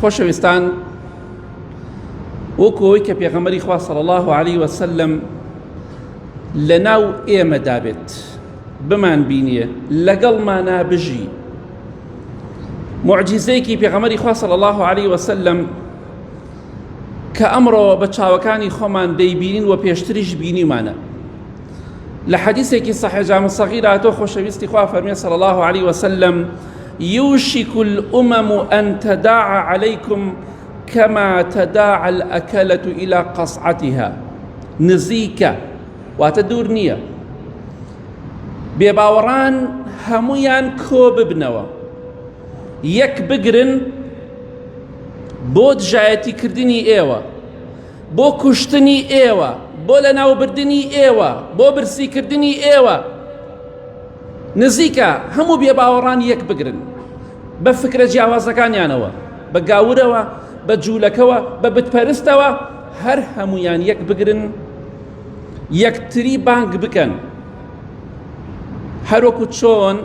خۆشەویستان وەکو ئەوەی کە پێغەمەری خوا صلی الله عليه وسلم لە ناو ئێمە دابێت بمان بینیە لەگەڵمانە بژی معجزەیەکی پێغەمەری خوا صلی الله عليه وسلم کە ئەمڕۆ بە چاوەکانی خۆمان دەیبینین و پێشتریش بینیمانە لە حەدیسێکی صحیح جامع صغیر هاتۆ خۆشەویستی خوا فەرمێ صلی الله علیه وسلم یوشک الامم ان تداع علیکم کما تداع الاکلة الى قصعتها نزیکە واتە دوور نییە بێباوەڕان هەمویان کۆ ببنەوە یەک بگرن بۆ دژایەتی کردنی ئێوە بۆ کوشتنی ئێوە بۆ لەناوبردنی ئێوە بۆ برسیکردنی ئێوە نزیکە هەموو بێباوەڕان یەک بگرن بە فکرە جیاوازەکانیانەوە بە گاورەوە بە جوولەکەوە بە بتپەرستەوە هەر هەمویان یەک بگرن یەکتری بانگ بکەن هەروەکو چۆن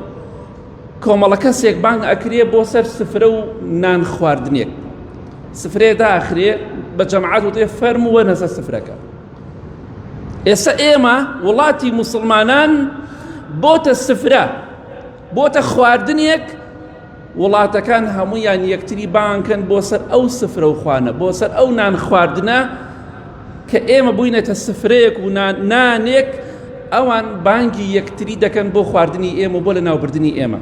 کۆمەڵە کەسێک بانگ ئەکرێ بۆ سەر سفرە و نان خواردنێک سفرەیە داخرێ بە جەماعەت وتێ فەرمو وەرنە سەر سفرەکە ئێستا ئێمە وڵاتی موسڵمانان بۆتە سفرە بۆتە خواردنێک وڵاتەکان هەمویان یەکتری بانکەن بۆ سەر ئەو سفرە و خوانە بۆ سەر ئەو نان خواردنە کە ئێمە بووینەتە سفرەیەک و نانێک ئەوان بانگی یەکتری دەکەن بۆ خواردنی ئێمە بۆ لە ناوبردنی ئێمە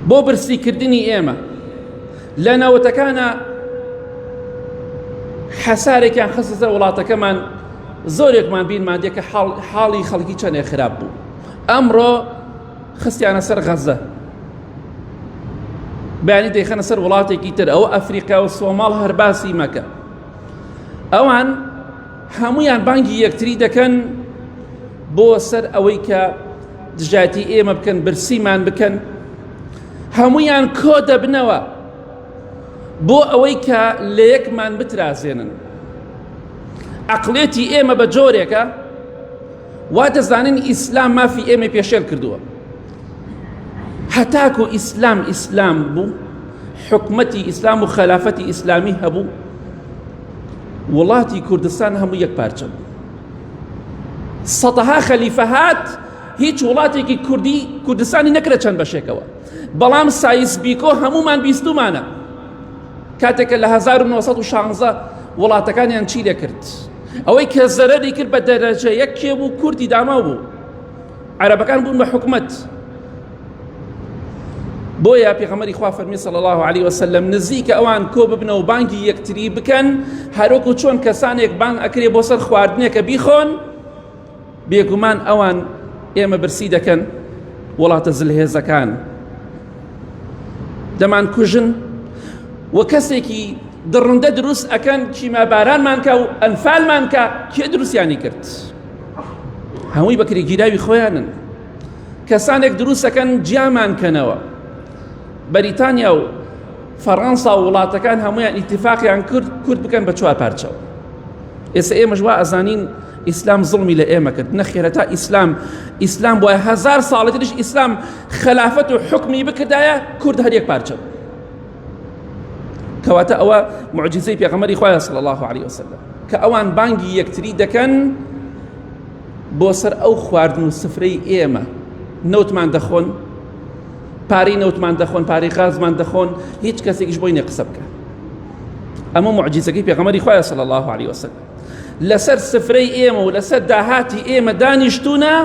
بۆ برسی کردنی ئێمە لە ناوەتەکانە حەسارێکیان خستە وڵاتەکەمان زۆرێکمان بیرمان دێ کە حاڵی خەڵکی چەندێ خراپ بوو ئەمڕۆ خستیانە سەر غەزە بەیانی دەیخەنە سەر وڵاتێکی تر ئەو ئەفریقا و سۆماڵ هەر باسی مەکە ئەوان هەمویان بانگی یەکتری دەکەن بۆ سەر ئەوەی کە دژایەتی ئێمە بکەن برسیمان بکەن هەمویان کۆ دەبنەوە بۆ ئەوەی کە لە یەکمان بترازێنن عقلێتی ئێمە بە جۆرێکە وا دەزانین ئیسلام مافی ئێمە پێشێل کردووە هەتاکو ئیسلام ئیسلام بوو حکومەتی ئیسلام و خەلافەتی ئیسلامی هەبوو وڵاتی کوردستان هەموو یەک پارچە بوو سەدەها خەلیفە هات هیچ وڵاتێکی کوردی کوردستانی نەکرە چەند بەشێکەوە بەڵام سایس بیکۆ هەمومان بیستمانە کاتێکە لە 1916 وڵاتەکانیان چی دەکرد ئەوەی کە زەرەری کرد بە دەرەجە یەک کێ بوو کوردی داماو بوو عەرەبەکان بوون بە حکومەت بۆیە پێغەمەری خوا فەرمی صلی الله علیه وسلم نزیکە ئەوان کۆ ببنە و بانگی یەکتری بکەن هەروەکو چۆن کەسانێک بانگ ئەکرێ بۆ سەر خواردنێکە بیخۆن بێگومان ئەوان ئێمە برسی دەکەن وڵاتە زلهێزەکان دەمان کوژن و کەسێکی دڕندە دروست ئەەکەن چیمە بارانمانکە و ئەنفالمانکە کێ دروستیانی کرد. هەمووی بەکرێگیراوی خۆیانن کەسانێک دروستەکەن جیامان کەنەوە بەریتانیا و فەڕەنسا و وڵاتەکان هەمویان ئیتفاقیان کرد کورد بکەن بە چوار پارچەوە ئێستا ئێمەش وا ئەزانین ئیسلام زڵمی لە ئێمە کرد نەخێرە تا ئیسلام ئیسلام وایە هزار ساڵەتریش ئیسلام خلافەت و حکمی بکردایە کورد هەرێک پارچە کەواتە ئەوە معجزەی پێغەمەری خوایە صلی الله علیه وسلم کە ئەوان بانگی یەکتری دەکەن بۆ سەر ئەو خواردن و سفرەی ئێمە نەوتمان دەخۆن پارەی نەوتمان دەخۆن پارەی غازمان دەخۆن هیچ کەسێکیش بۆی نە قسە بکە ئەمە معجزەکەی پێغەمەری خوایە صلی الله علیه وسلم لەسەر سفرەی ئێمە و لەسەر داهاتی ئێمە دانیشتونە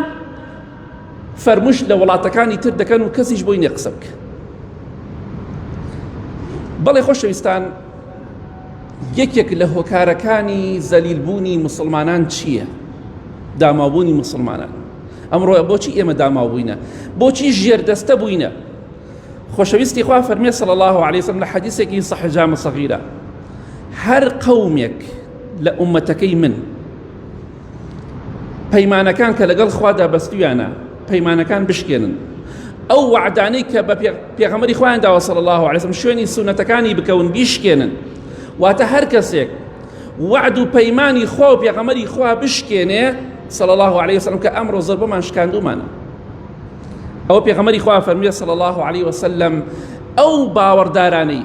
فەرموش لە وڵاتەکانی تر دەکەن و کەسیش بۆی نیە قسە بکە بەڵێ خۆشەویستان یەکێک لە هۆکارەکانی زەلیلبوونی مسلمانان چییە داماوبوونی مسلمانان ئەمڕۆ بۆچی ئێمە داماوبووینە بۆچی ژێردەستە بووینە خۆشەویستی خوا فەرمێ صلی الله عليه وسلم لە حەدیثێکی صحیح جامع صغیرە هەر قەومێک لە ئومەتەکەی من پەیمانەکان کە لەگەڵ خوادا بەستویانە پەیمانەکان بشکێنن ئەو وعدانەی کە بە پێغەمەری خۆیان داوە صلی الله عليه وسلم شوێنی سونەتەکانی بکەون بیشکێنن واتە هەر کەسێک وعد و پەیمانی خوا و پێغەمەری خوا بشکێنێ صلی الله عليه وسلم کە ئەمڕۆ زربمان شکاندومانە ئەو پێغەمەری خوا فەرمیێ صلی الله عليه وسلم ئەو باوەڕدارانەی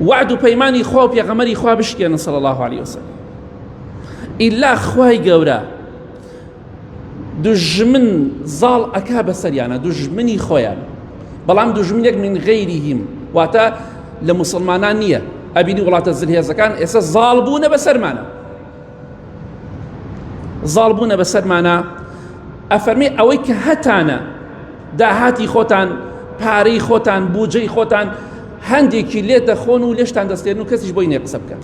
وعد و پەیمانی خوا و پێغەمەری خوا بشکێنن صلی الله علیه وسلم ئیلا خوای گەورە دژمن زاڵ ئەکا بەسەریانە دژمنی خۆیان بەڵام دژمنێک من غیرهم واتە لە مسلمانان نییە ئەبینی وڵاتە زلهێزەکان ئێستا زاڵ بوونە بەسەرمانە زاڵ بوونە بەسەرمانە ئەفەرمی ئەوەی کە هەتانە داهاتی خۆتان پارەی خۆتان بودجەی خۆتان هەندێکی لێ دەخۆن و لێشتان دەستێن و کەسیش بۆی نێ قسە بکەن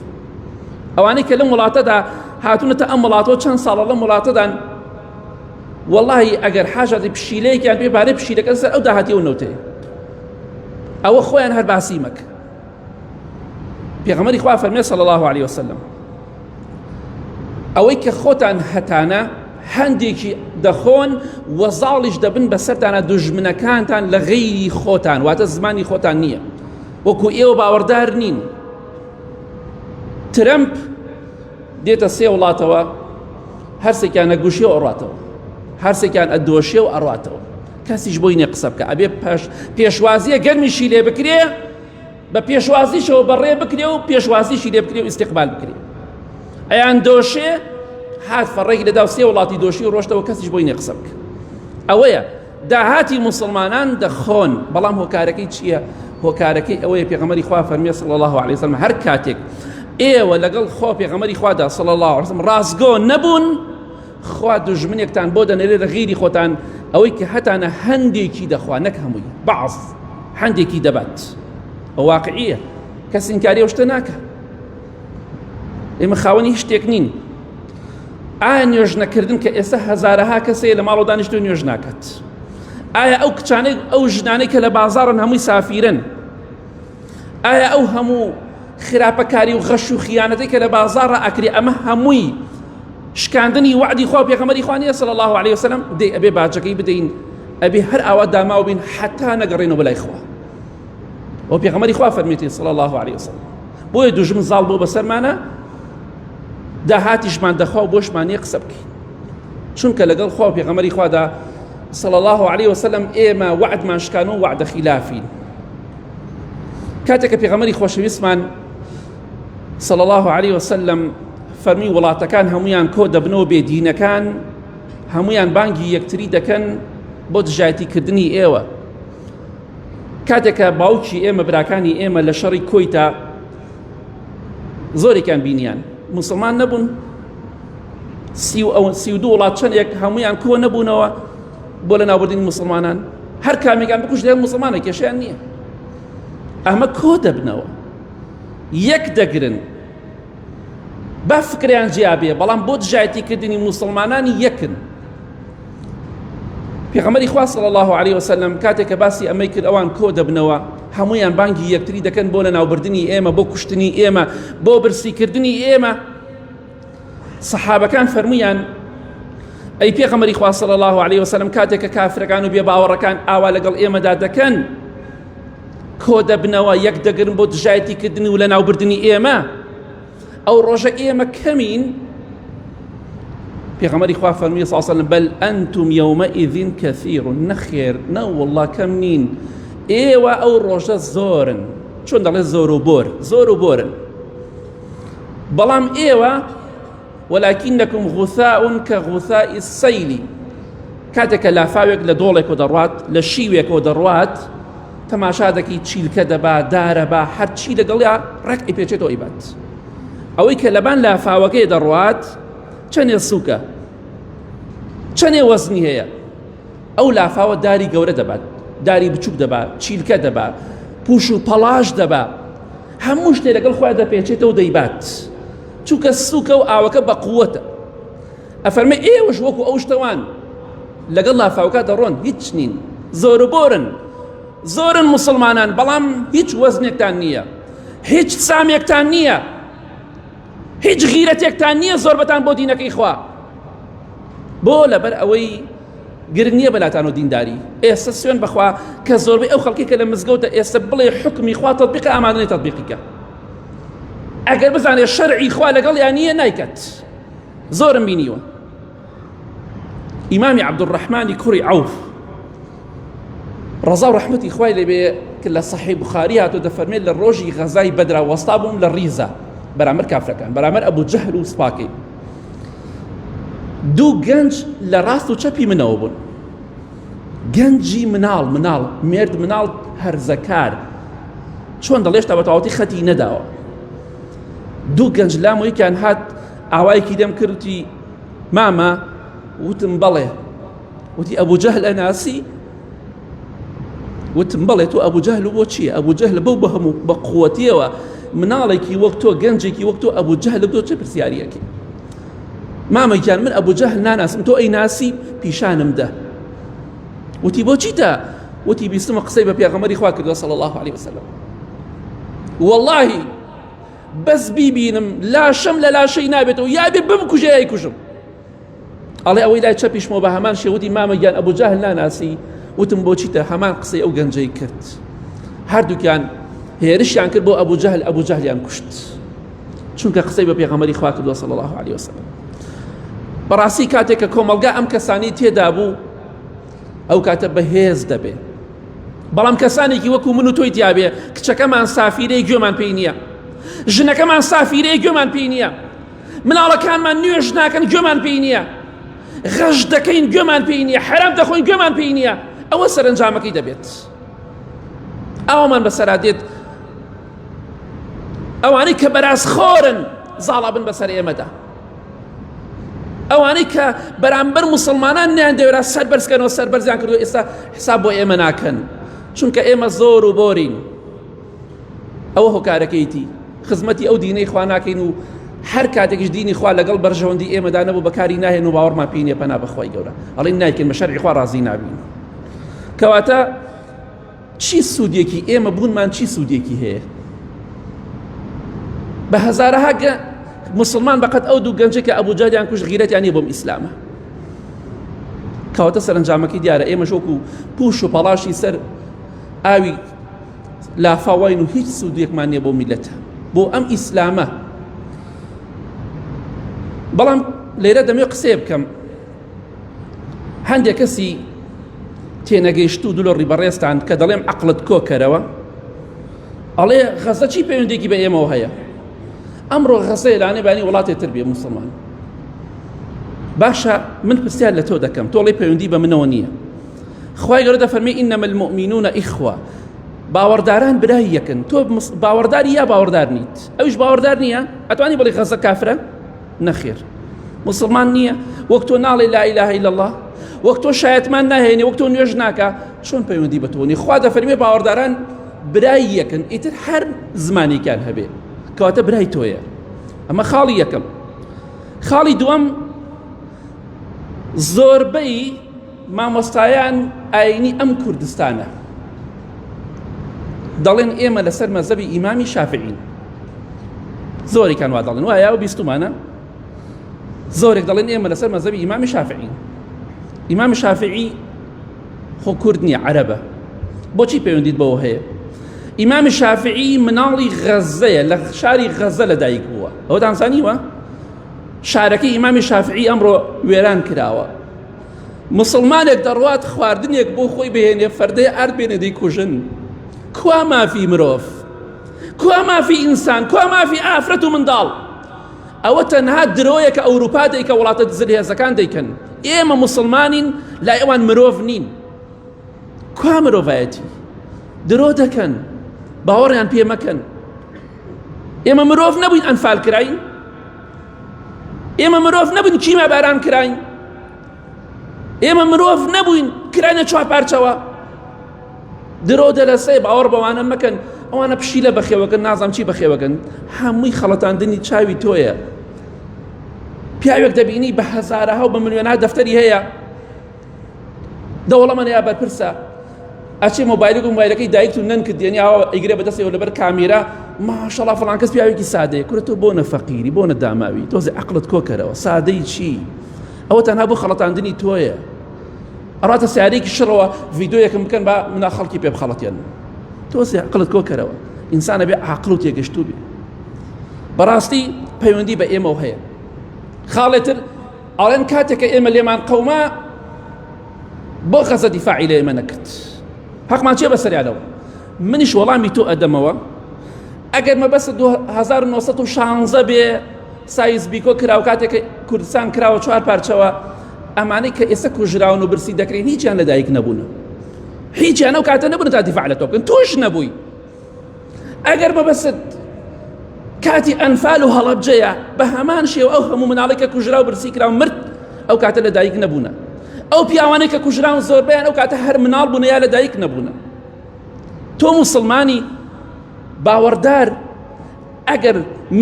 ئەوانەی کە لەم وڵاتەدا هاتونەتە ئەم وڵاتەوە چەند ساڵە لەم وڵاتەدان واللهی ئەگەر حاجاتی پشیلەیەکیان پێ بارەی پشیلەکە سەر ئەو داهاتی و نەوتەیە ئەوە خۆیان هەر باسی مەکە پێغەمەری خوا فەرمێ صلی الله علیه وسلم ئەوەی کە خۆتان هەتانە هەندێکی دەخۆن و زاڵیش دەبن بەسەرتانە دژمنەکانتان لە غەیری خۆتان واتە زمانی خۆتان نییە وەکو ئێوە باوەڕدار نین ترەمپ دێتە سێ وڵاتەوە هەرسێکیان نەگوشی و ئەڕاتەوە هەرسێکیان ئەدۆشێ و ئەڕاتەوە کەسیش بۆی نێ قسە بکە ئەبێ پێشوازیە گەرمیشی لێ بکرێ بە پێشوازیشەوە بەڕێ بکرێ و پێشوازیشی لێ بکرێ و ئیسیقبال بکرێ ئەیان دۆشێ هات فەڕێکی لەدا سێ وڵاتی دۆشی ڕۆشتەوە کەسیش بۆی نێ قسە بکە ئەوەیە داهاتی مسلمانان دەخۆن بەڵام هۆکارەکەی چییە هۆکارەکەی ئەوەیە پێغەمەری خوا فەرمیێ سڵ الله عليه وسلم هەر کاتێک ئێوە لەگەڵ خۆ پێغەمەری خوادا سڵ الله وسلم ڕاستگۆ نەبوون خوا دوژمنێکتان بۆ دەنێرێ لە غیری خۆتان ئەوەی کە هەتانە هەندێکی دەخوا نەک هەمووی بەعض هەندێکی دەبات ئەو واقعیە کەس ئینکاری ئەو شتە ناکە ئێمە خاوەنی هیچ شتێک نین ئایا نوێژ نەکردن کە ئێستا هەزارەها کەسەیە لە ماڵەوە دانیشتو نوێژ ناکات ئایا ئەو کچانەی ئەو ژنانەی کە لە بازارن هەمووی سافیرن ئایا ئەو هەموو خراپەکاری و غەش و خیانەتی کە لە بازارە ئەکری ئەمە هەمووی شکاندنی وعدی خوا پێغەمەری خوانیە صلی الله عليه وسلم دەی ئەبێ باجەکەی بدەین ئەبێ هەر ئاوا داماو بین حتا نەگەڕێنەوە بەلای خوا و پێغەمەری خوا فەرمیێتی صلی الله عليه وسلم بۆیە دوژمن زاڵ بۆ بەسەرمانە داهاتیشمان دەخوا و بۆشمانە قسە بکەین چونکە لەگەڵ خوا و پێغەمەری خوادا صلى الله عليه وسلم ئێمە وعدمان شکان و وعدە خلافین کاتێک کە پێغەمەری خۆشەویستمان صلى الله عليه وسلم فەرمی وڵاتەکان هەمویان کۆ دەبنەوە بێدینەکان هەمویان بانگی یەکتری دەکەن بۆ دژایەتی کردنی ئێوە کاتێکە باوکی ئێمە براکانی ئێمە لە شەڕی کۆیتا زۆرێکیان بینیان مسلمان نەبوون سی و ئەو سی و دوو وڵات چەندێک هەمویان کۆ نەبوونەوە بۆ لە ناوبردنی مسلمانان هەر کامێکان بکوش لێ مسلمانە کێشیان نییە ئەمە کۆ دەبنەوە یەک دەگرن با فکریان جیابێ بەڵام بۆ دژایەتیکردنی مسلمانانی یەکن پێغەمەری خوا صلی الله عليه وسلم کاتێک کە باسی ئەمەی کرد ئەوان کۆ دەبنەوە هەمویان بانگی یەکتری دەکەن بۆ لە ناوبردنی ئێمە بۆ کوشتنی ئێمە بۆ برسیکردنی ئێمە سەحابەکان فەرمویان ئەی پێغەمەری خوا صلی الله علیه وسلم کاتێک کە کافرەکان و بێباوەڕەکان ئاوا لەگەڵ ئێمەدا دەکەن کۆ دەبنەوە یەک دەگرن بۆ دژایەتی کردن و لە ناوبردنی ئێمە ئەو ڕۆژە ئێمە کەمین پێغەمەری خوا فەرمی ساسەلم بەل ئەنتم یومە ئیدین کەثیر نەخێر نە والله کەم نین ئێوە ئەو ڕۆژە زۆرن چۆن دەڵێ زۆر و بۆر زۆر و بۆرن بەڵام ئێوە وەلاکینەکم غوثاون کە غوثائی سەیلی کاتێکە لافاوێک لە دۆڵێکەوە دەڕوات لە شیوێکەوە دەڕوات تەماشا دەکەی چیلکە دەبا دارە با هەرچی لەگەڵیا ڕێک ئیپێچێتەوە ئیبات ئەوەی کە لەبان لافاوەکەی دەڕوات چەندێ سووکە چەندێ وەزنی هەیە ئەو لافاوە داری گەورە دەبات داری بچووک دەبات چیلکە دەبات پوش و پەڵاش دەبات هەموو شتێ لەگەڵ خۆیان دەپێچێتەوە دەیبات چونکە سوکە و ئاوەکە بە قووەتە ئەفەرمە ئێوەش وەکو ئەو شتەوان لەگەڵ لافاوکە دەڕۆن هیچ نین زۆر بۆرن زۆرن مسلمانان بەڵام هیچ وەزنێکتان نییە هیچ سامێکتان نییە هیچ غیرەتێکتان نییە زۆربەتان بۆ دینەکەی خوا بۆ لەبەر ئەوەی گرنگ نییە بەلاتان و دینداری ئێستا سوێن بخوا کە زۆربەی ئەو خەڵکی کە لە مزگەوتە ئێستا بڵێ حکمی خوا تطبیق ئامادەی تطبیقیکە ئەگەر بزانێ شەرعی خوا لەگەڵ یان نییە نایکات زۆرم بینیوە ئیمامی عەبدولڕەحمانی کوڕی عەوف ڕەزا و ڕەحمەتی خوای لێبێ کە لە سەحی بخاری هاتۆ دەفەرمێت لە ڕۆژی غەزای بەدرا وەستا بووم لە ڕیزە بەرامبەر کافرەکان بەرامبەر ئەبوو جەهل و سپاکەی دوو گەنج لە ڕاست و چەپی منەوە بوون گەنجی مناڵ مناڵ مرد مناڵ هەرزەکار چۆن دەڵێشتا بە تەواوەتی خەتی نەداوە دوو گەنج لامۆیکیان هات ئاوایەکی دەم کرد وتی مامە وتم بەڵێ وتی ئەبوو جەهل ئەناسی وتم بەڵێ تۆ ئەبوو جەهل و بۆ چییە ئەبوو جەهل بەو بە هەموو بە قووەتیەوە مناڵێکی وەک تۆ گەنجێکی وەک تۆ ئەبوو جەهل تۆ چه پرسیارەکی مامەکیان من ئەبوو جەهل ناناسم تۆ ئەی ناسی پیشانم دە وتی بۆ چیتە وتی بیستمە قسەی بە پێغەمەری خوا کردوە سەڵ الله عليه وسلم واللهی بەس بیبینم لاشەم لە لاشەی نابێتەوە یابێ بمکوژێ یای کوژم ئەڵێ ئەوەی لای چەپیشمەوە بە هەمان شێوەتی مامە گیان ئەبوو جاهل ناناسی وتم بۆچیتە هەمان قسەی ئەو گەنجەی کرد هەردووکیان هێرشیان کرد بۆ ئەبوو جەهل ئەبوو جەهلیان کوشت چونکە قسەی بە پێغەمەری خوا کردووە صلی الله عليه وسلم بەڕاستی کاتێک کە کۆمەڵگا ئەم کەسانی تێدا بوو ئەو کاتە بەهێز دەبێ بەڵام کەسانێکی وەکو من و تۆی دیاوێ کچەکەمان سافیرەی گوێمان پێی نییە ژنەکەمان سافیرەی گوێمان پێی نییە مناڵەکانمان نوێژ ناکەن گوێمان پێی نییە غەش دەکەین گوێمان پێی نییە حرام دەخۆین گوێمان پێی نییە ئەوە سەرنجامەکەی دەبێت ئەومان بەسەرا دێت ئەوانەی کە بەراز خۆرن زاڵا بن بەسەر ئێمەدا ئەوانەی کە بەرامبەر مسلمانان نیان دەوێرا سەر بەرزکەنەوە سەر بەرزیان کردو ئێستا حساب بۆ ئێمە ناکەن چونکە ئێمە زۆر و بۆرین ئەوە هۆکارەکەیتی خزمەتی ئەو دینەی خوا ناکەین و هەر کاتێکش دینی خوا لەگەڵ بەرژەوەندی ئێمەدا نەبوو بەکاری ناهێن و باوەڕمان پێی نیە پەنا بەخوای گەورە ئەڵین نایکەین بە شەرعی خوا ڕازی نابین کەواتە چی سودێکی ئێمە بوونمان چی سودێکی هەیە بە هەزارەها مسلمان بەقەت ئەو دوو گەنجە کە ئەبوو جاریان کوش غیرەتیان نیە بۆم ئیسلامە کەواتە سەرنجامەکەی دیارە ئێمە شۆک و پوش و پەڵاشی سەر ئاوی لافاواین و هیچ سوودێکمان نیە بۆ میلەتە بۆ ئەم ئیسلامە بەڵام لێرە دەمێ قسێ بکەم هەندێک کەسی تێنەگەیشت و دولە ڕیبەڕێستان کە دەڵێم عقلت کۆکەرەوە ئەڵێ غەزە چی پەیوەندێکی بە ئێمەوە هەیە ئەمڕۆ غەزە لانێ بانی وڵاتێ تر بێ مسلمان باشە من پرسیار لە تۆ دەکەم تۆڵی پەیوەندی بە منەوە نییە خی گەورە دەفەرمی ئینەمە المؤمنونە ئیخوا باوەڕداران برای یەکن تۆ باوەڕداری یا باوەڕدار نیت ئەوش باوەڕدار نییە ئەتوانی بڵی غەزە کافرە نەخێر مسلمان نییە وەک تۆ ناڵێ لا اله الا الله وەک تۆ شایەتمان ناهێنێ وەک تۆ نوێژ ناکە چۆن پەیوەندی بە تۆنی خوا دەفەرمێ باوەڕداران برای یەکن ئیتر هەر زمانێکیان هەبێ کەواتە برای تۆیە ئەمە خاڵی یەکەم خاڵی دووەم زۆربەی مامۆستایان ئاینی ئەم کوردستانە دەڵێن ئێمە لەسەر مەزەبی ئیمامی شافعین زۆرێکان وا دەڵێن وایە و بیستمانە زۆرێک دەڵێن ئێمە لەسەر مەزەبی ئیمامی شافعین ئیمامی شافعی خۆ کورد نییە عەرەبە بۆچی پەیوەندیت بەوە هەیە ئیمامی شافعی مناڵی غەزەیە لە شاری غەزە لەدایک بووە ئەوە دانسانیوە شارەکەی ئیمامی شافعی ئەمڕۆ وێران کراوە مسلمانێک دەڕوات خواردنێک بۆ خۆی بهێنێ فەردەی ئارد بێنێ دەیکوژن کوا مافی مرۆڤ کوا مافی ئینسان کوا مافی ئافرەت و منداڵ ئەوە تەنها درۆیەکە ئەوروپا دەیکە وڵاتە زلهێزەکان دەیکەن ئێمە مسلمانین لا ئەوان مرۆڤ نین کوا مرۆڤایەتی درۆ دەکەن باوەڕیان پێ مەکەن ئێمە مرۆڤ نەبووین ئەنفال کراین ئێمە مرۆڤ نەبووین کیما باران کراین ئێمە مرۆڤ نەبووین کرانە چوار پارچەوە درۆ دەلەسێ باوەڕ بەوانە مەکەن ئەوانە پشی لە بەخێوەکەن نازانم چی بەخێوەکەن هەمووی خەڵەتاندنی چاوی تۆیە پیاوێک دەبینی بە هەزارەها و بە ملیۆنها دەفتەری هەیە دەوڵەمەن یا بەرپرسە ئەچێ مۆبایلەکە و مۆبایلەکەی دایکت و نەنکت دێنی ئاوا ئەیگرێ بەدەستەوە لەبەر کامێرا ماشەڵا فڵان کەس پیاوێکی سادەیە کورە تۆ بۆ نەفەقیری بۆ نەداماوی تۆزی عقلت کۆکەرەوە سادەی چی ئەوە تەنها بۆ خەڵەتاندنی تۆیە ئەڕاتە سیارێکی شڕەوە ڤیددیویەکەم بکەن بە منا خەڵکی پێ بخەڵەتێن تۆزی عقلت کۆکەرەوە ئینسانە بێ عقل و تێگەشتوو بێ بەڕاستی پەیوەندی بە ئێمە هەیە خاڵێتر ئەڵێن کاتێک کە ئێمە لێمان قەوما بۆ غەزە دیفاعی لە ئێمە نەکرد حەقمان چێ بەسەریانەوە منیش وەڵامی تۆ ئەدەمەوە ئەگەر مەبەست 1916 بێ سایز بیکۆ کراو کاتێک کوردستان کراوە چوار پارچەوە ئەمانەی کە ئێستا کوژراون و برسی دەکرێن هیچیان لەدایک نەبوون هیچیان ئەو کاتە نەبوون تا دیفاع لە تۆکن تۆش نەبووی ئەگەر مەبەست کاتی ئەنفال و هەڵەبجەیە بە هەمان شێوە ئەو هەموو مناڵێکە کوژرا و برسی کرا و مرد ئەو کاتە لە دایک نەبوونە ئەو پیاوانەی کە کوژراون زۆربیان ئەو کاتە هەر مناڵ بوون یا لە دایک نەبوونە تۆ مسلمانی باوەڕدار ئەگەر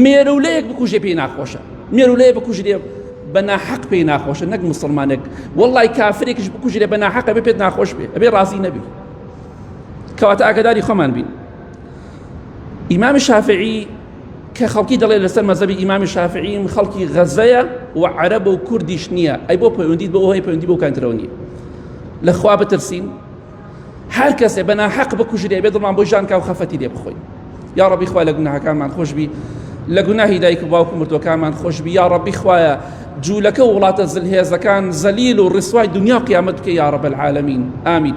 مێرولەیەک بکوژێ پێی ناخۆشە مێرولەیە بکوژرێ بە ناحەق پێی ناخۆشە نەک مسلمانێک وڵی کافرێکش بکوژرێ بە ناحەقە بێ پێت ناخۆش بێ ئەبێ ڕازی نەبێت کەواتە ئاگداری خۆمان بین ئیمامی شافعی کە خەڵکی دەڵێت لەسەر مەزەبی ئیمامی شافعیم خەڵکی غەزەیە و عەرەب و کوردیش نییە ئەی بۆ پەیوەندیت بۆ ئەوهی پەیوەندی بۆ کانترەوە نیە لەخوا بترسین هەر کەسێ بەنا حەق بکوژرێ بێ دڵمان بۆ ژانکا و خەفەتی لێ بخۆین یا ڕبی خوا لە گوناهەکانمان خۆشببی لە گوناهی دایک و باوکو مردوەکانمان خۆشببی یا ڕبی خوایە جوولەکە وڵاتە زلهێزەکان زەلیل و ڕسوای دنیا قیامەت بکە یاڕە بەعاالمین ئامین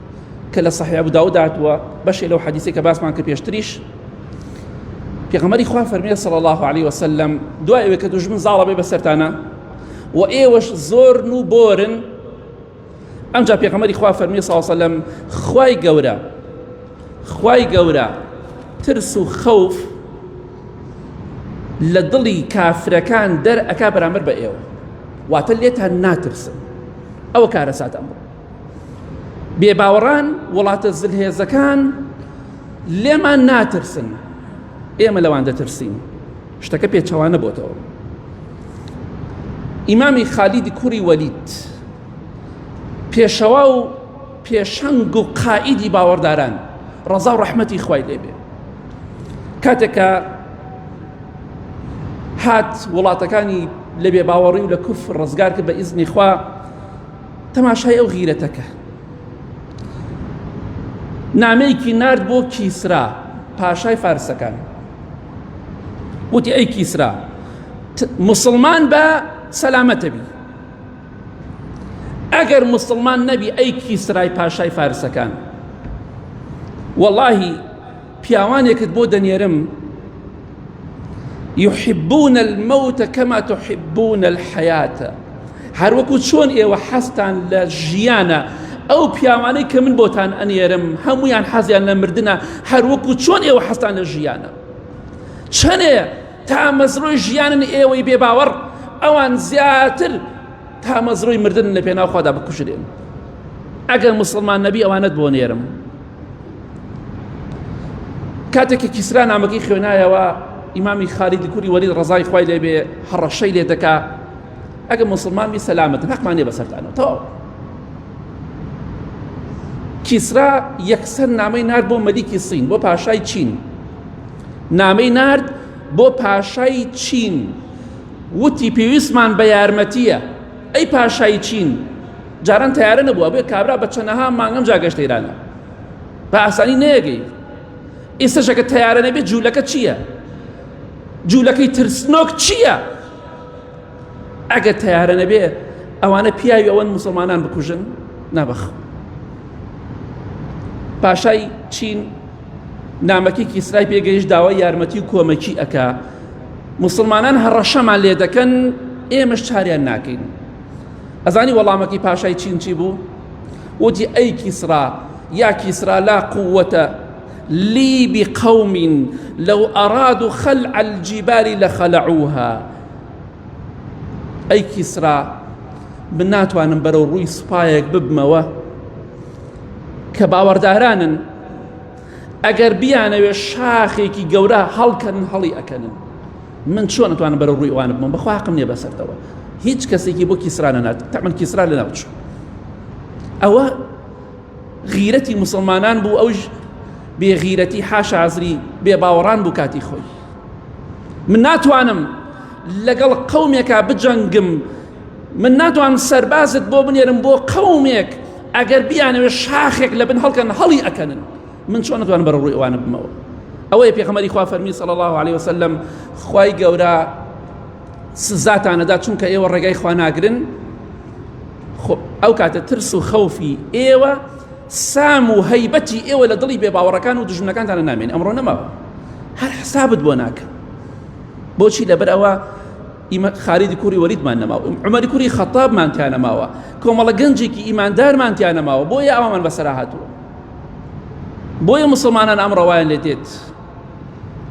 کە لە صحیح ابو داود هاتووە بەشێ لەو حەدیثی کە باسمان کە پێشتریش پێغەمەری خوا فەرمیێ صلی الله عليه وسلم دوای ئەوێ کە دوژمن زاڵە بێ بەسەرتانە و ئێوەش زۆر و بۆرن ئەمجا پێغەمەری خوا فەرمی ساوسلم خوای گەورە خوای گەورە ترس و خەوف لە دڵی کافرەکان دەر ئەک بەرامبەر بە ئێوە واتە لێتان ناترسن ئەوە کارەسات ئەمڕۆ بێباوەڕان وڵاتە زلهێزەکان لێمان ناترسن ئێمە لەوان دەترسین شتەکە پێچەوانە بۆتەوە ئیمامی خالیدی کوڕی وەلیت پێشەوا و پێشەنگ و قائیدی باوەڕداران ڕەزا و ڕەحمەتی خوای لێبێ کاتێکە هات وڵاتەکانی لە بێ باوەڕی و لە کوف ڕزگار کرد بە ئیزنی خوا تەماشای ئەو غیرەتەکە نامەیەکی نارد بۆ کیسرا پاشای فارسەکان وتی ئەی کیسرا مسلمان بە سەلامەتە بی ئەگەر مسلمان نەبی ئەی کیسرای پاشای فارسەکان واللهی پیاوانێکت بۆ دەنێرم یحبون الموت کما تحبون الحیات هەر وەکو چۆن ئێوە حەستان لە ژیانە ئەو پیاوانەی کە من بۆتان ئەنێرم هەمویان حەزیان لە مردنە هەر وەکو چۆن ئێوە حەستان لە ژیانە چەنێ تا مەزرۆی ژیانن ئێوەی بێ باوەڕ ئەوان زیاتر تا مەزرۆی مردن لە پێناوخوادا بکوژرێن ئەگەر مسلمان نەبی ئەوانەت بۆ نێرم کاتێکی کیسرا نامەکەی خوێنایەوە ئیمامی خالیدی کوری وەری ڕزای خی لێ بێ هەڕەشەی لێ دەکا ئەگە مسلمانمی سەلامەت حەقمانێ بەسەرتانەوە تەواو کیسرا یەکسەر نامەی نار بۆ مەلیکی سین بۆ پاشای چین نامەی نارد بۆ پاشای چین وتی پێویستمان بە یارمەتیە ئەی پاشای چین جاران تەیارە نەبووە بێ کابرا بە چەنەها مانگەم جا گەشتە ئێرانە بە ئاسانی نەیەگەی ئێستەشەکە تەیارە نەبێ جوولەکە چییە جوولەکەی ترسنۆک چییە ئەگەر تەیارە نەبێ ئەوانە پیاوی ئەوەن مسلمانان بکوژن نابخ پاشای چین نامەکی کیسرای پێگەیش داوای یارمەتی و کۆمەکی ئەکا مسلمانان هەڕەشەمان لێ دەکەن ئێمەش چاریان ناکەین ئەزانی وەڵامەکی پاشای چینچی بوو وتی ئەی کیسرا یا کیسرا لا قووەتە لی بقومین لەو ئەراد و خەل ئەلجیباری لە خەلعوها ئەی کیسرا من ناتوانم بەرەو ڕووی سوپایەک ببمەوە کە باوەڕدارانن ئەگەر بیانەوێ شاخێکی گەورە هەڵکەن هەڵی ئەکەنن من چۆن ئەتوانم بەرە ڕووی ئەوان بم بەخوا حەقم نییە بەسەرتەوە هیچ کەسێکی بۆ کیسرانە نات تەمن کیسرا لە ناوچوو ئەوە غیرەتی مسلمانان بوو ئەوش بێغیرەتی حاشازری بێ باوەڕان بوو کاتی خۆی من ناتوانم لەگەڵ قومێکا بجەنگم من ناتوان سەربازت بۆ بنێرم بۆ قومێک ئەگەر بیانەوێ شاخێک لە بن هەڵکەن هەڵی ئەکەنن من چۆن نتوانم بەرە ڕووی ئەوانە بمەوە ئەوەی پێخەمەری خوا فەرمی صلی الله عليه وسلم خوای گەورە سزاتانەدا چونکە ئێوە ڕێگای خوا ناگرن ئەو کاتە ترس و خەوفی ئێوە سام و هەیبەتی ئێوە لە دڵی بێ باوەڕەکان و دژمنەکانتانە نامێن ئەمڕۆ نەماوە هەر حسابت بۆ ناکەن بۆچی لەبەر ئەوە ئیمە خالیدی کوڕی وەلیدمان نەماوە، عومەری کوڕی خەتابمان تیا نەماوە، کۆمەڵە گەنجێکی ئیماندارمان تیا نەماوە، بۆیە ئەوەمان بەسەرا هاتووە. بۆیە مسلمانان ئەم ڕەوایان لێ دێت.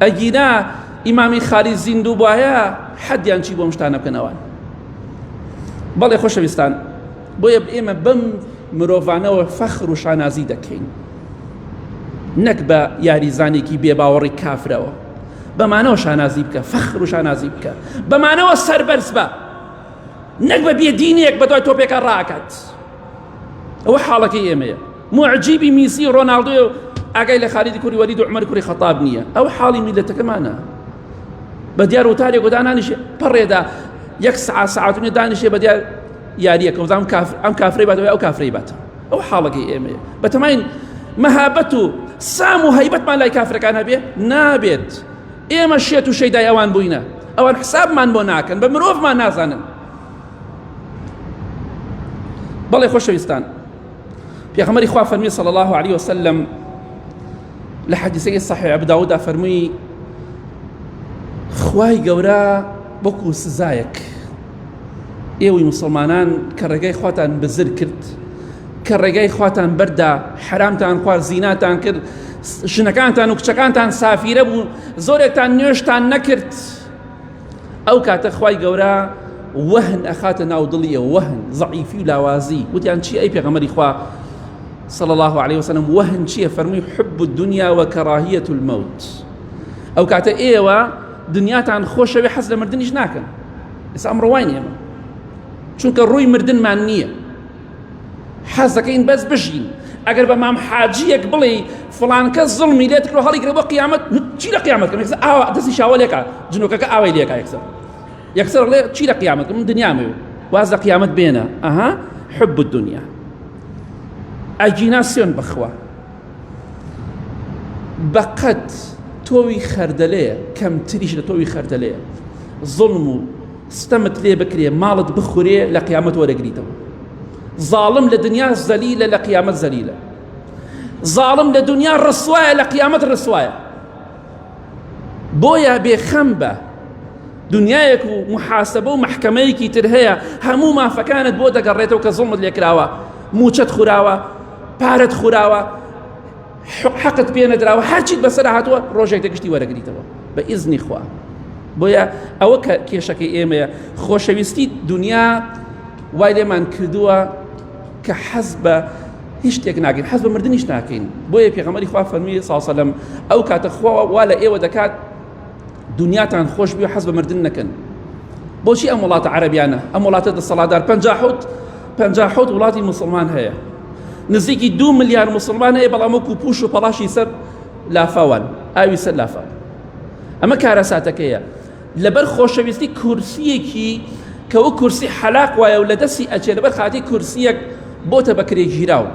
ئەگینا ئیمامی خالید زیندوو بایە حەدیان چی بۆم شتانە بکەنەوە. بەڵێ خۆشەویستان بۆیە ئێمە بەم مرۆڤانەوە فەخر و شانازی دەکەین. نەک بە یاریزانێکی بێباوەڕی کافرەوە. بەمانەوە شانازی بکە فەخر و شانازی بکە بەمانەوە سەربەرز بە نەک بە بێدینێک بە دوای تۆپێکە ڕاکات ئەوە حاڵەکەی ئێمەیە معجیبی میسی و ڕۆناالدۆ و ئاگای لە خالیدی کوری وەرید و عمر کوری خەتاب نییە ئەو حاڵی میلەتەکەمانە بە دیار وتارێک و دانانیش پەڕێدا یەک سعات سعاتونی دانیشێ بە دیار یاریەکە وزانام ئەم کافری باتەوە ئەو کافری باتەوە ئەو حاڵەکەی ئێمەیە بەتەماین مەهابەت و سام و هەیبەتمان لای کافرەکان هەبێ نابێت ئێمە شێت و شەیدای ئەوان بووینە ئەوان حسابمان بۆ ناکەن بە مرۆڤمان نازانن بەڵێ خۆشەویستان پێغەمەری خوا فەرمی صلی الله عليه وسلم لە حەدیسەکەی صحیح ابو داوود فەرمووی خوای گەورە بۆکو سزایەک ئێوەی مسلمانان کە ڕێگای خواتان بزر کرد کە ڕێگای خواتان بەردا حرامتان خوار زیناتان کرد ژنەکانتان و کچەکانتان سافیرە بوو زۆرێکتان نوێشتان نەکرد ئەو کاتە خوای گەورە وەهن ئەخاتە ناو دڵیە وەهن زعیفی و لاوازی وتیان چی ئەی پێغەمەری خوا صلى الله عليه وسلم وهن چیە فەرمووی حب الدنيا وكراهية الموت ئەو کاتە ئێوە دنیاتان خۆشەوێ حەز لە مردنیش ناکەن ئێستا ئەمڕۆ وای نیە چونکە ڕووی مردنمان نییە حەز دەکەین بەس بژین ئەگەر بە مام حاجیەک بڵێ فلانکە زڵمی لێت کرۆ هەڵیگرە بۆ قیامەت چی لە قیامەت کەم ئاوا دەستی شاوە لێکا جنۆکەکە ئاوای لێکا یەکسەر یەکسەر ڵێ چی لە قیامەت من دنیامێ واز لە قیامەت بێنە ئەها حب الدنیا ئەگینا سوێن بخوا بەقەد تۆوی خەردەلەیە کەمتریش لە تۆوی خەردەلەیە زڵم و ستەمت لێ بکرێ ماڵت بخورێ لە قیامەت وەرەگریتەوە ظالم لە دنیا زەلیلە لە قیامەت زەلیلە ظالم لە دنیا ڕسوایە لە قیامەت ڕسوایە بۆیە بێخەم بە دنیایەک و محاسبە و محکمەیەکی تر هەیە هەموو مافەکانت بۆ دەگەڕێتەوە کە زڵمت لێکراوە موچەت خوراوە پارەت خوراوە حەقت پێ نەدراوە هەرچیت بەسەر هاتووە ڕۆژێک دەگشتی وەرەگریتەوە بە ئیزنی خوا بۆیە ئەوە کە کێشەکەی ئێمەیە خۆشەویستی دنیا وای لێمان کردووە کە حەز بە هیچ شتێک ناگەین حەز بە مردنیش ناکەین بۆیە پێغەمەری خوا فەرمی ساسەلم ئەو کاتە خوا وا لە ئێوە دەکات دنیاتان خۆش بێ حەز بە مردن نەکەن بۆچی ئەم وڵاتە عەربیانە ئەم وڵاتە دەسەڵاتدار پنج حوت پنج حوت وڵاتی مسلمان هەیە نزیکی دو ملیار مسلمان هەیە بەڵام وەکو پوش و پەڵاشی سەر لافاوان ئاوی سەر لافا ئەمە کارەساتەکەیە لەبەر خۆشەویستی کورسیەکی کەەوە کورسی حەلاق وایە و لە دەستی ئەچێ لەبەر خاتی کورسیەک بۆتە بەکرێ گیراوە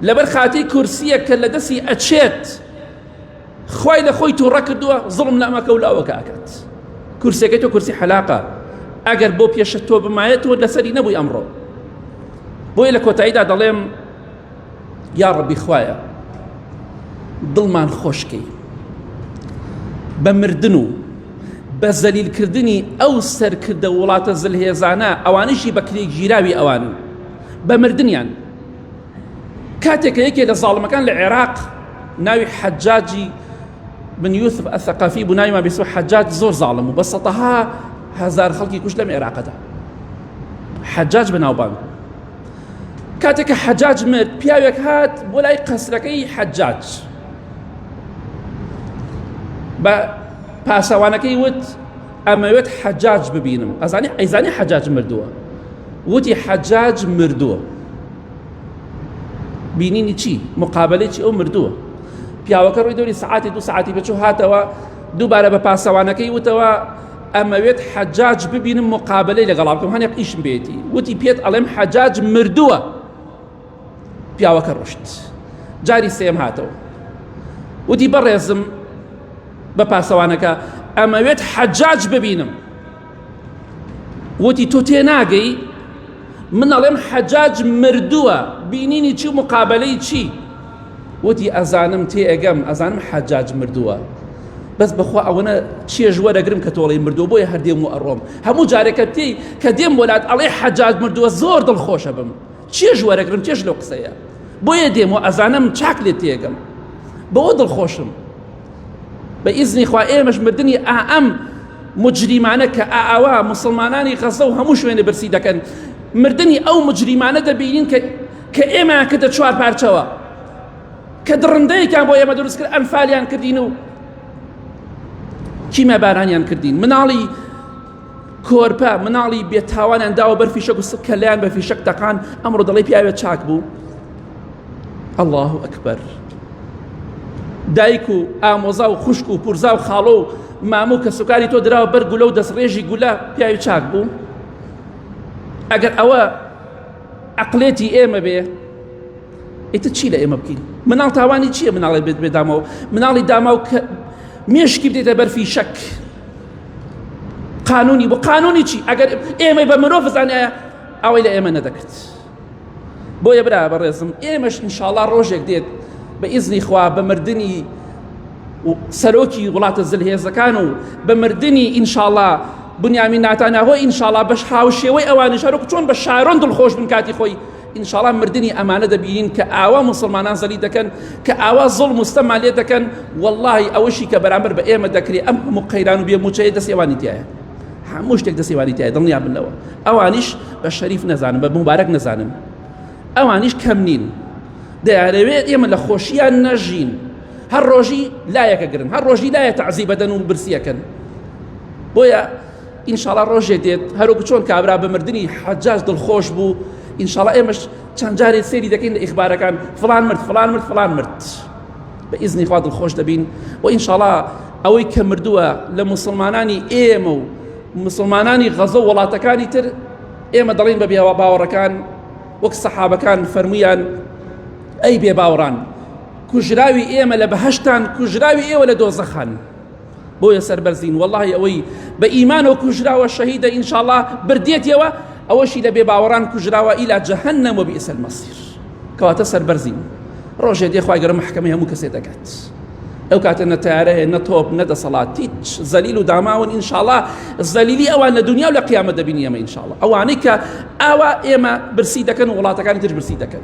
لەبەر خاتی کورسیەک کە لە دەستی ئەچێت خوای لە خۆی تووڕە کردووە زڵم لە ئەمەکە و لاوەکە ئەکات کورسەکەی تۆ کورسی حەلاقە ئەگەر بۆ پێشە تۆ بمایەت تۆ لەسەری نەبووی ئەمڕۆ بۆیە لە کۆتاییدا دەڵێم یا ڕەبی خوایە دڵمان خۆشکەی بە مردن و بە زەلیلکردنی ئەو سەرکردە وڵاتە زلهێزانە ئەوانشی بەکرێ گیراوی ئەوان بە مردیان کاتێک کە یەکێ لە زاڵمەکان لە عێراق ناوی حەجاجی بن یوسف ئەثەقەفی بوو ناوی مابیسو حەجاج زۆر زاڵم بوو بە سەتەها هەزار خەڵکی کوشت لەم عێراقەدا حەجاج بەناوبانگ کاتێک کە حەجاج مرد پیاوێک هات بۆ لای قەسرەکەی حەجاج بە پاسەوانەکەی وت ئەمەوێت حەجاج ببینم ئەزانی ئەیزانی حەجاج مردووە وتی حەجاج مردووە بینینی چی مقابلەی چی ئەو مردووە پیاوەکە ڕووی دەوری سعاتی دو سعاتی بچوو هاتەوە دووبارە بە پاسەوانەکەی وتەوە ئەمەوێت حەجاج ببینم مقابلەی لەگەڵا بکەم هەنێک ئیشم بێتی وتی پێت ئەڵێم حەجاج مردووە پیاوەکە ڕۆشت جاری سێم هاتەوە وتی بەڕێزم بە پاسەوانەکە ئەمەوێت حەجاج ببینم وتی تۆ تێ ناگەی من ئەڵێم حەجاج مردووە بینینی چی مقابلەی چی وتی ئەزانم تێ ئەگەم ئەزانم حەجاج مردووە بەس بەخوا ئەوەنە چێژ وەرەگرم کە تۆڵی مردوو بۆیە هەردێم و ئەڕۆم هەموو جارێکە تێی کە دێم وەلات ئەڵێ حەجاج مردووە زۆر دڵخۆشە بم چێژ وەرەگرم چێژ لەو قسەیە بۆیە دێم و ئەزانم چاک لێ تێگەم بەوە دڵخۆشم بە ئیزنی خوا ئێمەش مردنی ئائەم مجریمانە کە ئاوا مسلمانانی غەزە و هەموو شوێنە برسی دەکەن مردنی ئەو مجریمانە دەبینین کە کە ئێمە کردە چوار پارچەوە کە دڕندەیەکیان بۆ ئێمە دروست کرد ئەنفالیان کردین و کیمە بارانیان کردین مناڵی کۆرپە مناڵی بێتاوانیان داوە بەر فیشەک و کەلیان بە فیشەک تەقان ئەمڕۆ دەڵی پیاوێت چاک بوو الله ئەکبەر دایک و ئامۆزا و خوشک و پورزا و خاڵۆ و مامو کە سوکاری تۆ دراوە بەر گولە و دەستڕێژی گولە پیاوی چاک بوو ئەگەر ئەوە عقلێتی ئێمە بێ ئیتە چی لە ئێمە بکەین مناڵ تاوانی چییە مناڵێ بێت بێدامەوە مناڵی داماو کە مێشکی بدێتە بەرفی شەک قانونی بۆ قانونی چی ئەگەر ئێمەی بە مرۆڤ بزانایە ئەوەی لە ئێمە نەدەکرد بۆیە برا بەڕێزم ئێمەش انشاءڵا ڕۆژێک دێت بە ئیزنی خوا بە مردنی سەرۆکی وڵاتە زلهێزەکان و بە مردنی ئینشاءڵا بنیامی ناتانەهۆ ئینشاءڵا بەش هاوشێوەی ئەوانش هەرک چۆن بە شارۆن دڵخۆش بن کاتی خۆی انشاڵا مردنی ئەمانە دەبینین کە ئاوا موسڵمانان زەلی دەکەن کە ئاوا زۆڵ مستەما لێ دەکەن واللهی ئەوەشی کە بەرامبەر بە ئێمە دەکرێت ئەم هەموو قەیران و بێ موچەیە دەست ئێوانی تایە هەموو شتێک دەست ئێوانی تایە دڵنیا بن لەوە ئەوانیش بە شەریف نەزانن بە مبارەک نەزانن ئەوانیش کەم نین دەیانەوێت ئێمە لە خۆشییان نەژین هەر ڕۆژی لایەکە گرن هەر ڕۆژی لایە تەعزی بەدەن و برسیەکەن بۆیە ئینشاڵا ڕۆژێ دێت هەروەکو چۆن کابرا بە مردنی حەجاج دڵخۆش بوو ئینشاڵا ئێمەش چەند جارێ سێری دەکەین لە ئیخبارەکان فلان مرد فلان مرد فلان مرد بە ئیزنی خوا دڵخۆش دەبین و ئینشاڵا ئەوەی کە مردووە لە مسلمانانی ئێمە و مسلمانانی غەزە وڵاتەکانی تر ئێمە دەڵین بە بێوا باوەڕەکان وەک سەحابەکان فەرمویان ئەی بێ باوڕان کوژراوی ئێمە لە بەهشتان کوژراوی ئێوە لە دۆزەخان بۆیە سەربەرزین وەڵی ئەوەی بە ئیمان و کوژراوە شەهیدە ئینشاءڵا بردێتەوە ئەوەشی لە بێباوەڕان کوژراوە ئیلا جەهنم و بئس المصیر کەواتە سەربەرزین ڕۆژێ دێخوای گەرە محکەمەی هەموو کەسێ دەکات ئەو کاتە نە تارە هەیە نە تۆپ نە دەسەڵات هیچ زەلیل و داماون ئینشاءڵا زەلیلی ئەوان لە دنیا و لە قیامەت دەبینی ئەمە ئینشاءڵا ئەوانەی کە ئاوا ئێمە برسی دەکەن وڵاتەکانی تر برسی دەکەن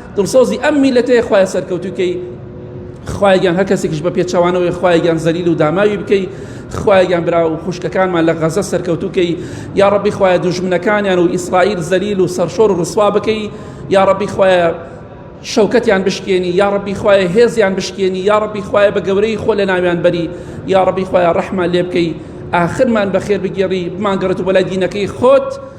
دڵسۆزی ئەم میلەتەیە خوایە سەرکەوتوکەی خوایگیان هەر کەسێکیش بە پێچەوانەوەی خوایگیان زەلیل و داماوی بکەی خوایگیان برا و خوشکەکانمان لە غەزە سەرکەوتوکەی یا ڕبی خوایە دوژمنەکانیان و ئیسرائیل زەلیل و سەرشۆر و ڕسوا بکەی یا ڕبی خوایە شەوکەتیان بشکێنی یا ڕبی خوایە هێزیان بشکێنی یا ڕبی خوایە بە گەورەی خۆ لە ناویان بەری یا ڕبی خوایە ڕەحمان لێ بکەی ئاخرمان بەخێر بگێڕی بمانگەڕێت و بەلای دینەکەی خۆت